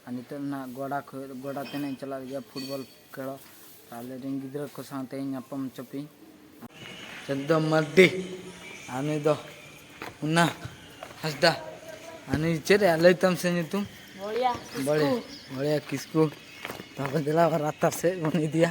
ᱟᱨ ᱱᱤᱛᱚᱜ ᱫᱚ ᱱᱟᱦᱟᱜ ᱜᱚᱰᱟ ᱠᱷᱚᱱ ᱜᱚᱰᱟ ᱛᱮ ᱱᱟᱦᱟᱜ ᱤᱧ ᱪᱟᱞᱟᱜ ᱞᱟᱹᱜᱤᱫᱼᱟ ᱯᱷᱩᱴᱵᱚᱞ ᱠᱷᱮᱞᱚᱜ ᱟᱞᱮ ᱨᱮᱱ ᱜᱤᱫᱽᱨᱟᱹ ᱠᱚ ᱥᱟᱶᱛᱮ ᱤᱧ ᱧᱟᱯᱟᱢ ᱦᱚᱪᱚᱯᱮᱭᱟᱹᱧ ᱪᱚᱱᱫᱚ ᱢᱟᱨᱰᱤ ᱟᱨ ᱱᱩᱭ ᱫᱚ ᱩᱱᱟ ᱦᱟᱸᱥᱫᱟ ᱟᱨ ᱱᱩᱭ ᱪᱮᱫ ᱨᱮᱭᱟᱜ ᱞᱟᱹᱭ ᱛᱟᱢ ᱥᱮ ᱧᱩᱛᱩᱢ ᱵᱚᱲᱤᱭᱟ ᱵᱚᱲᱤᱭᱟ ᱠᱤᱥᱠᱩ ᱛᱟᱯᱚᱨ ᱫᱮᱞᱟ ᱨᱟᱥᱛᱟ ᱥᱮᱫ ᱵᱚᱱ ᱤᱫᱤᱭᱟ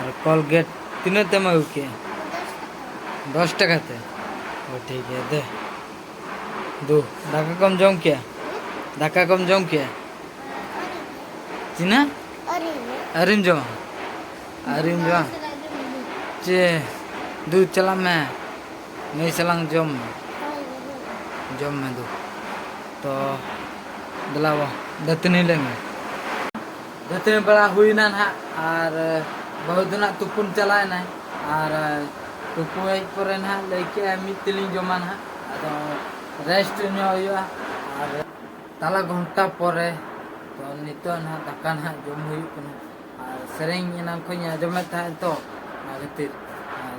ᱟᱨ ᱠᱚᱞᱜᱮᱴ ᱛᱤᱱᱟᱹᱜ ᱛᱮᱢ ᱟᱹᱜᱩ ᱠᱮᱜᱼᱟ ᱫᱚᱥ ᱴᱟᱠᱟ ᱛᱮ ᱚ ᱴᱷᱤᱠ ᱜᱮᱭᱟ ᱫᱮ ᱫᱩ ᱫᱟᱠᱟ ᱠᱚᱢ ᱡᱚᱢ ᱠᱮᱜᱼᱟ ᱫᱟᱠᱟ ᱠᱚᱢ ᱡᱚᱢ ᱠᱮᱜᱼᱟ ᱛᱤᱱᱟᱹᱜ ᱟᱹᱣᱨᱤᱢ ᱡᱚᱢᱟ ᱟᱹᱣᱨᱤᱢ ᱡᱚᱢᱟ ᱪᱮ ᱫᱩ ᱪᱟᱞᱟᱜ ᱢᱮ ᱱᱩᱭ ᱥᱟᱞᱟᱝ ᱡᱚᱢ ᱢᱮ ᱡᱚᱢ ᱢᱮ ᱫᱩ ᱛᱚ ᱫᱮᱞᱟ ᱫᱟᱹᱛᱟᱹᱱᱤ ᱞᱮᱱ ᱜᱮ ᱫᱟᱹᱛᱟᱹᱱᱤ ᱵᱟᱲᱟ ᱦᱩᱭᱱᱟ ᱱᱟᱦᱟᱜ ᱟᱨ ᱵᱟᱹᱦᱩ ᱫᱚ ᱱᱟᱦᱟᱜ ᱛᱩᱯᱩᱱ ᱪᱟᱞᱟᱣ ᱮᱱᱟᱭ ᱟᱨ ᱛᱩᱯᱩ ᱦᱮᱡ ᱯᱚᱨᱮ ᱱᱟᱦᱟᱜ ᱞᱟᱹᱭ ᱠᱮᱜᱼᱟᱭ ᱢᱤᱫ ᱛᱮᱞᱤᱧ ᱡᱚᱢᱟ ᱱᱟᱦᱟᱜ ᱟᱫᱚ ᱨᱮᱥᱴ ᱧᱚᱜ ᱦᱩᱭᱩᱜᱼᱟ ᱟᱨ ᱛᱟᱞᱟ ᱜᱷᱚᱱᱴᱟ ᱯᱚᱨᱮ ᱛᱚ ᱱᱤᱛᱚᱜ ᱱᱟᱦᱟᱜ ᱫᱟᱠᱟ ᱱᱟᱦᱟᱜ ᱡᱚᱢ ᱦᱩᱭᱩᱜ ᱠᱟᱱᱟ ᱟᱨ ᱥᱮᱨᱮᱧ ᱮᱱᱟᱝ ᱠᱷᱚᱱᱤᱧ ᱟᱸᱡᱚᱢᱮᱫ ᱛᱟᱦᱮᱸᱫ ᱛᱚ ᱚᱱᱟ ᱠᱷᱟᱹᱛᱤᱨ ᱟᱨ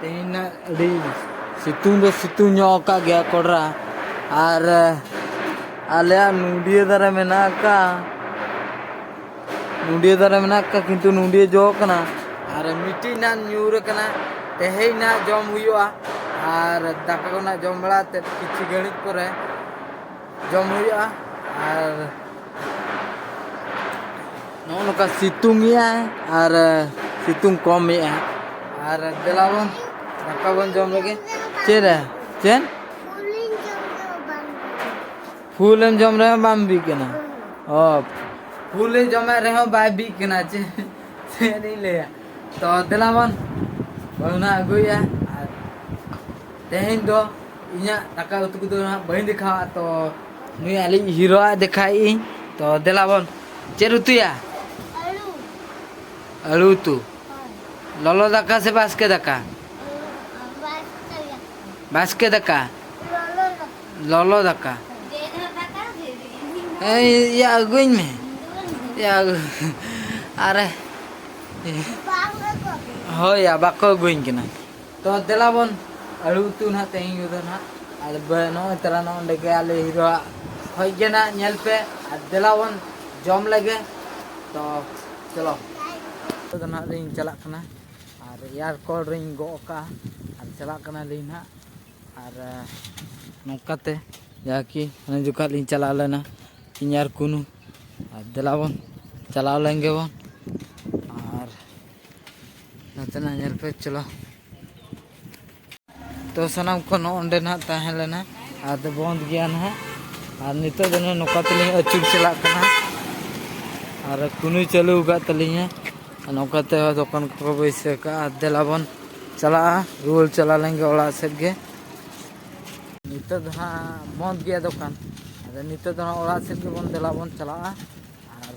ᱛᱮᱦᱮᱧ ᱦᱟᱸᱜ ᱟᱹᱰᱤ ᱥᱤᱛᱩᱝ ᱫᱚ ᱥᱤᱛᱩᱝ ᱧᱚᱜ ᱟᱠᱟᱫ ᱜᱮᱭᱟ ᱠᱚᱰᱨᱟ ᱟᱨ ᱟᱞᱮᱭᱟᱜ ᱱᱚᱰᱤᱭᱟᱹ ᱫᱟᱨᱮ ᱢᱮᱱᱟᱜ ᱟᱠᱟᱫᱼᱟ ᱱᱚᱰᱤᱭᱟᱹ ᱫᱟᱨᱮ ᱢᱮᱱᱟᱜ ᱟᱠᱟᱫᱼᱟ ᱠᱤᱱᱛᱩ ᱱᱚᱰᱤᱭᱟᱹ ᱡᱚ ᱠᱟᱱᱟ ᱟᱨ ᱢᱤᱫᱴᱤᱡ ᱱᱟᱜ ᱧᱩᱨ ᱟᱠᱟᱱᱟ ᱛᱮᱦᱮᱧ ᱱᱟᱜ ᱡᱚᱢ ᱦᱩᱭᱩᱜᱼᱟ ᱟᱨ ᱫᱟᱠᱟ ᱠᱚ ᱱᱟᱜ ᱡᱚᱢ ᱵᱟᱲᱟ ᱠᱟᱛᱮᱫ ᱠᱤᱪᱷᱩ ᱜᱷᱟᱹᱲᱤᱡ ᱯᱚᱨᱮ ᱡᱚᱢ ᱦᱩᱭᱩᱜᱼᱟ ᱟᱨ ᱱᱚᱜᱼᱚ ᱱᱚᱝᱠᱟ ᱥᱤᱛᱩᱝ ᱮᱜᱼᱟ ᱟᱨ ᱥᱤᱛᱩᱝ ᱠᱚᱢ ᱮᱜᱼᱟ ᱟᱨ ᱫᱮᱞᱟ ᱵᱚᱱ ᱫᱟᱠᱟ ᱵᱚᱱ ᱡᱚᱢ ᱞᱮᱜᱮ ᱪᱮᱫ ᱨᱮ ᱪᱮᱫ ᱯᱷᱩᱞᱮᱢ ᱡᱚᱢ ᱨᱮᱦᱚᱸ ᱵᱟᱢ ᱵᱤᱜ ᱠᱟᱱᱟ ᱚ ᱯᱷᱩᱞᱮ ᱡᱚᱢᱮᱫ ᱨᱮᱦᱚᱸ ᱵᱟᱭ ᱵᱤᱜ ᱠᱟᱱᱟ ᱪᱮᱫ ᱪᱮᱫ ᱤᱧ ᱞᱟᱹᱭᱟ ᱛᱚ ᱫᱮᱞᱟ ᱵᱚᱱ ᱚᱱᱟ ᱟᱹᱜᱩᱭᱟ ᱟᱨ ᱛᱮᱦᱮᱧ ᱫᱚ ᱤᱧᱟᱹᱜ ᱫᱟᱠᱟ ᱩᱛᱩ ᱠᱚᱫᱚ ᱦᱟᱸᱜ ᱵᱟᱹᱧ ᱫᱮᱠᱷᱟᱣᱟ ᱛᱚ ᱱᱩᱭ ᱟᱹᱞᱤᱧ ᱦᱤᱨᱳᱣᱟᱜ ᱫᱮᱠᱷᱟᱭᱮᱫ ᱤᱧ ᱛᱚ ᱫᱮᱞᱟ ᱵᱚᱱ ᱪᱮᱫ ᱩᱛᱩᱭᱟ ᱟᱹᱞᱩ ᱩᱛᱩ ᱞᱚᱞᱚ ᱫᱟᱠᱟ ᱥᱮ ᱵᱟᱥᱠᱮ ᱫᱟᱠᱟ ᱵᱟᱥᱠᱮ ᱫᱟᱠᱟ ᱞᱚᱞᱚ ᱫᱟᱠᱟ ᱤᱭᱟᱹ ᱟᱹᱜᱩᱧ ᱢᱮ ᱤᱭᱟᱹ ᱟᱨᱮ ᱦᱳᱭ ᱵᱟᱠᱚ ᱟᱹᱜᱩᱧ ᱠᱟᱱᱟ ᱛᱚ ᱫᱮᱞᱟ ᱵᱚᱱ ᱟᱹᱞᱩ ᱩᱛᱩ ᱱᱟᱦᱟᱜ ᱛᱮᱦᱮᱧ ᱠᱚᱫᱚ ᱱᱟᱦᱟᱜ ᱟᱨ ᱱᱚᱜᱼᱚᱭ ᱛᱟᱨᱟ ᱱᱚᱜᱼᱚ ᱱᱚᱸᱰᱮ ᱜᱮ ᱟᱞᱮ ᱦᱤᱨᱳᱣᱟᱜ ᱠᱷᱚᱡ ᱜᱮ ᱱᱟᱦᱟᱜ ᱧᱮᱞ ᱯᱮ ᱟᱨ ᱫᱮᱞᱟ ᱵᱚᱱ ᱡᱚᱢ ᱞᱮᱜᱮ ᱛᱚ ᱪᱚᱞᱚ ᱱᱤᱛᱚᱜ ᱫᱚ ᱱᱟᱦᱟᱜ ᱞᱤᱧ ᱪᱟᱞᱟᱜ ᱠᱟᱱᱟ ᱟᱨ ᱮᱭᱟᱨ ᱠᱚᱞ ᱨᱤᱧ ᱜᱚᱜ ᱠᱟᱜᱼᱟ ᱟᱨ ᱪᱟᱞᱟᱜ ᱠᱟᱱᱟᱞᱤᱧ ᱱᱟᱦᱟᱜ ᱟᱨ ᱱᱚᱝᱠᱟᱛᱮ ᱡᱟᱦᱟᱸ ᱠᱤ ᱚᱱᱟ ᱡᱚᱠᱷᱟᱜ ᱞᱤᱧ ᱪᱟᱞᱟᱣ ᱞᱮᱱᱟ ᱤᱧ ᱟᱨ ᱠᱩᱱᱩ ᱟᱨ ᱫᱮᱞᱟ ᱵᱚᱱ ᱪᱟᱞᱟᱣ ᱞᱮᱱ ᱜᱮᱵᱚᱱ ᱱᱚᱛᱮᱱᱟᱜ ᱧᱮᱞ ᱯᱮ ᱪᱚᱞᱚ ᱛᱚ ᱥᱟᱱᱟᱢ ᱠᱚ ᱱᱚᱸᱰᱮ ᱱᱟᱦᱟᱜ ᱛᱟᱦᱮᱸ ᱞᱮᱱᱟ ᱟᱫᱚ ᱵᱚᱱᱫ ᱜᱮᱭᱟ ᱱᱟᱦᱟᱜ ᱟᱨ ᱱᱤᱛᱚᱜ ᱫᱚ ᱱᱚᱝᱠᱟ ᱛᱮᱞᱤᱧ ᱟᱹᱪᱩᱨ ᱪᱟᱞᱟᱜ ᱠᱟᱱᱟ ᱟᱨ ᱠᱩᱱᱩᱭ ᱪᱟᱹᱞᱩ ᱟᱠᱟᱫ ᱛᱟᱹᱞᱤᱧᱟ ᱱᱚᱝᱠᱟ ᱛᱮ ᱫᱚᱠᱟᱱ ᱠᱚᱠᱚ ᱵᱟᱹᱭᱥᱟᱹᱣ ᱠᱟᱜᱼᱟ ᱫᱮᱞᱟ ᱵᱚᱱ ᱪᱟᱞᱟᱜᱼᱟ ᱨᱩᱣᱟᱹᱲ ᱪᱟᱞᱟᱣ ᱞᱮᱱᱜᱮ ᱚᱲᱟᱜ ᱥᱮᱫ ᱜᱮ ᱱᱤᱛᱚᱜ ᱫᱚ ᱦᱟᱸᱜ ᱵᱚᱱᱫ ᱜᱮᱭᱟ ᱫᱚᱠᱟᱱ ᱟᱫᱚ ᱱᱤᱛᱚᱜ ᱫᱚ ᱦᱟᱸᱜ ᱚᱲᱟᱜ ᱥᱮᱫ ᱜᱮᱵᱚᱱ ᱫᱮᱞᱟ ᱵᱚᱱ ᱪᱟᱞᱟᱜᱼᱟ ᱟᱨ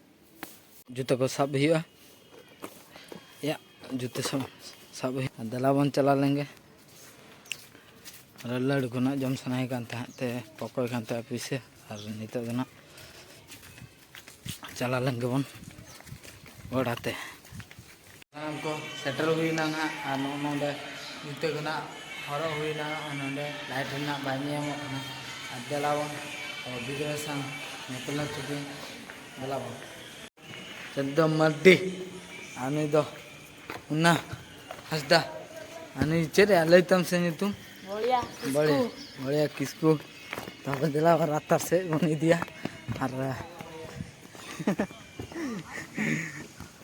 ᱡᱩᱛᱟᱹ ᱠᱚ ᱥᱟᱵ ᱦᱩᱭᱩᱜᱼᱟ ᱭᱟ ᱡᱩᱛᱟᱹ ᱥᱟᱵ ᱥᱟᱵ ᱦᱩᱭᱩᱜᱼᱟ ᱫᱮᱞᱟ ᱵᱚᱱ ᱪᱟᱞᱟᱣ ᱞᱮᱱᱜᱮ ᱟᱨ ᱞᱟᱹᱰᱩ ᱠᱚ ᱱᱟᱜ ᱡᱚᱢ ᱥᱟᱱᱟᱭᱮ ᱠᱟᱱ ᱛᱟᱦᱮᱸᱫ ᱛᱮ ᱯᱚᱠᱚᱭ ᱠᱟᱱ ᱛᱟᱦᱮᱸᱫ ᱯᱩᱭᱥᱟᱹ ᱟᱨ ᱱᱤᱛᱚᱜ ᱫᱚ ᱱᱟᱜ ᱪᱟᱞᱟᱣ ᱞᱮᱱ ᱜᱮᱵᱚᱱ ᱚᱲᱟᱜ ᱛᱮ ᱥᱟᱱᱟᱢ ᱠᱚ ᱥᱮᱴᱮᱨ ᱦᱩᱭᱱᱟ ᱱᱟᱦᱟᱜ ᱟᱨ ᱱᱚᱜᱼᱚ ᱱᱚᱰᱮ ᱡᱩᱛᱟᱹ ᱠᱚ ᱱᱟᱦᱟᱜ ᱦᱚᱨᱚᱜ ᱦᱩᱭᱱᱟ ᱟᱨ ᱱᱚᱰᱮ ᱞᱟᱭᱤᱴ ᱨᱮᱱᱟᱜ ᱵᱟᱭ ᱧᱮᱧᱟᱢᱚᱜ ᱠᱟᱱᱟ ᱟᱨ ᱫᱮᱞᱟ ᱵᱚᱱ ᱟᱵᱚ ᱜᱤᱫᱽᱨᱟᱹ ᱥᱟᱶ ᱧᱮᱯᱮᱞ ᱦᱚᱪᱚ ᱠᱤᱱ ᱫᱮᱞᱟ ᱵᱚᱱ ᱪᱚᱫᱽᱫᱚ ᱢᱟᱨᱰᱤ ᱟᱨ ᱱᱩᱭ ᱫᱚ ᱩᱱᱟ ᱦᱟᱸᱥᱫᱟ ᱟᱨ ᱱᱩᱭ ᱪᱮᱫ ᱮ ᱞᱟᱹᱭ ᱛᱟᱢ ᱥᱮ ᱧᱩᱛᱩᱢ ᱵᱚᱲᱤᱭᱟ ᱵᱟᱲᱮ ᱵᱟᱲᱮ ᱠᱤᱥᱠᱩ ᱛᱟᱯᱚᱨ ᱫᱮᱞᱟ ᱵᱚᱱ ᱨᱟᱛᱟ ᱥᱮᱫ ᱵᱚᱱ ᱤᱫᱤᱭᱟ ᱟᱨ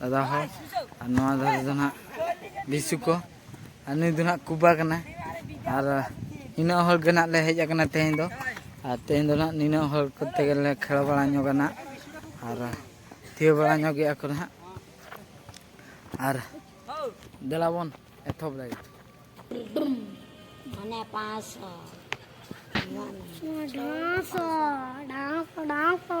ᱫᱟᱫᱟ ᱦᱚᱲ ᱟᱨ ᱱᱚᱣᱟ ᱫᱷᱟᱨᱮ ᱫᱚ ᱱᱟᱜ ᱞᱤᱥᱩ ᱠᱚ ᱟᱨ ᱱᱩᱭ ᱫᱚ ᱱᱟᱜ ᱠᱩᱵᱟ ᱠᱟᱱᱟ ᱟᱨ ᱱᱤᱱᱟᱹᱜ ᱦᱚᱲ ᱜᱮ ᱱᱟᱜ ᱞᱮ ᱦᱮᱡ ᱟᱠᱟᱱᱟ ᱛᱮᱦᱮᱧ ᱫᱚ ᱟᱨ ᱛᱮᱦᱮᱧ ᱫᱚ ᱱᱟᱜ ᱱᱤᱱᱟᱹᱜ ᱦᱚᱲ ᱠᱚᱛᱮ ᱜᱮᱞᱮ ᱠᱷᱮᱞ ᱵᱟᱲᱟ ᱧᱚᱜᱟ ᱱᱟᱜ ᱟᱨ ᱛᱷᱤᱭᱟᱹ ᱵᱟᱲᱟ ᱧᱚᱜ ᱜᱮᱭᱟ ᱠᱚ ᱱᱟᱜ ᱟᱨ ᱫᱮᱞᱟ ᱵᱚᱱ ᱮᱛᱚᱦᱚᱵ ᱞᱮᱜᱮ ᱢᱟᱱᱮ ᱯᱟᱸᱪᱥᱚ ᱰᱟᱸᱥᱚ ᱰᱟᱸᱥᱚ ᱰᱟᱸᱥᱚ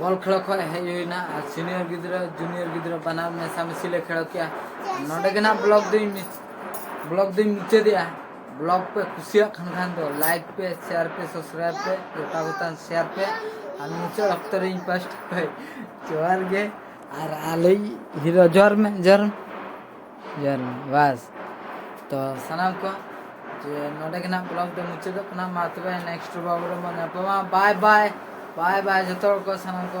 ᱵᱚᱞ ᱠᱷᱮᱞ ᱠᱷᱚᱱ ᱦᱮᱡ ᱦᱩᱭᱱᱟ ᱟᱨ ᱥᱤᱱᱤᱭᱚᱨ ᱜᱤᱫᱽᱨᱟᱹ ᱡᱩᱱᱤᱭᱚᱨ ᱜᱤᱫᱽᱨᱟᱹ ᱵᱟᱱᱟᱨ ᱢᱮᱥᱟᱢᱤᱥᱤ ᱞᱮ ᱠᱷᱮᱞ ᱠᱮᱜᱼᱟ ᱱᱚᱰᱮ ᱜᱮ ᱱᱟᱜ ᱵᱞᱚᱜ ᱫᱚᱧ ᱵᱞᱚᱜ ᱫᱚᱧ ᱢᱩᱪᱟᱹᱫᱮᱜᱼᱟ ᱵᱞᱚᱜ ᱯᱮ ᱠᱩᱥᱤᱭᱟᱜ ᱠᱟᱱ ᱠᱷᱟᱱ ᱫᱚ ᱞᱟᱭᱤᱠ ᱯᱮ ᱥᱮᱭᱟᱨ ᱯᱮ ᱥᱟᱵᱥᱠᱨᱟᱭᱤᱵ ᱯᱮ ᱜᱚᱴᱟ ᱜᱚᱴᱟᱱ ᱥᱮᱭᱟᱨ ᱯᱮ ᱟᱨ ᱢᱩᱪᱟᱹᱫ ᱚᱠᱛᱚ ᱨᱮ ᱤᱧ ᱯᱟᱥᱴ ᱠᱷᱚᱡ ᱡᱚᱦᱟᱨ ᱜᱮ ᱟᱨ ᱟᱞᱮ ᱦᱤᱨᱳ ᱡᱚᱦᱟᱨ ᱢᱮ ᱡᱚᱦᱟᱨ ᱢᱮ ᱡᱚᱦᱟᱨ ᱢᱮ ᱵᱟᱥ ᱛᱚ ᱥᱟᱱᱟᱢ ᱠᱚ ᱡᱮ ᱱᱚᱰᱮ ᱜᱮ ᱱᱟᱜ ᱵᱞᱚᱜ ᱫᱚ ᱢᱩᱪᱟᱹᱫᱚᱜ ᱠᱟᱱᱟ ᱢᱟ ᱛᱚᱵᱮ ᱱᱮᱠᱥᱴ ᱵᱞᱚᱜ ᱨᱮ ᱵᱚᱱ ᱧᱟᱯᱟᱢᱟ ᱵᱟᱭ ᱵᱟᱭ ᱵᱟᱭ ᱵᱟᱭ ᱡᱚᱛᱚ ᱦᱚᱲ ᱠᱚ ᱥᱟᱱᱟᱢ ᱠᱚ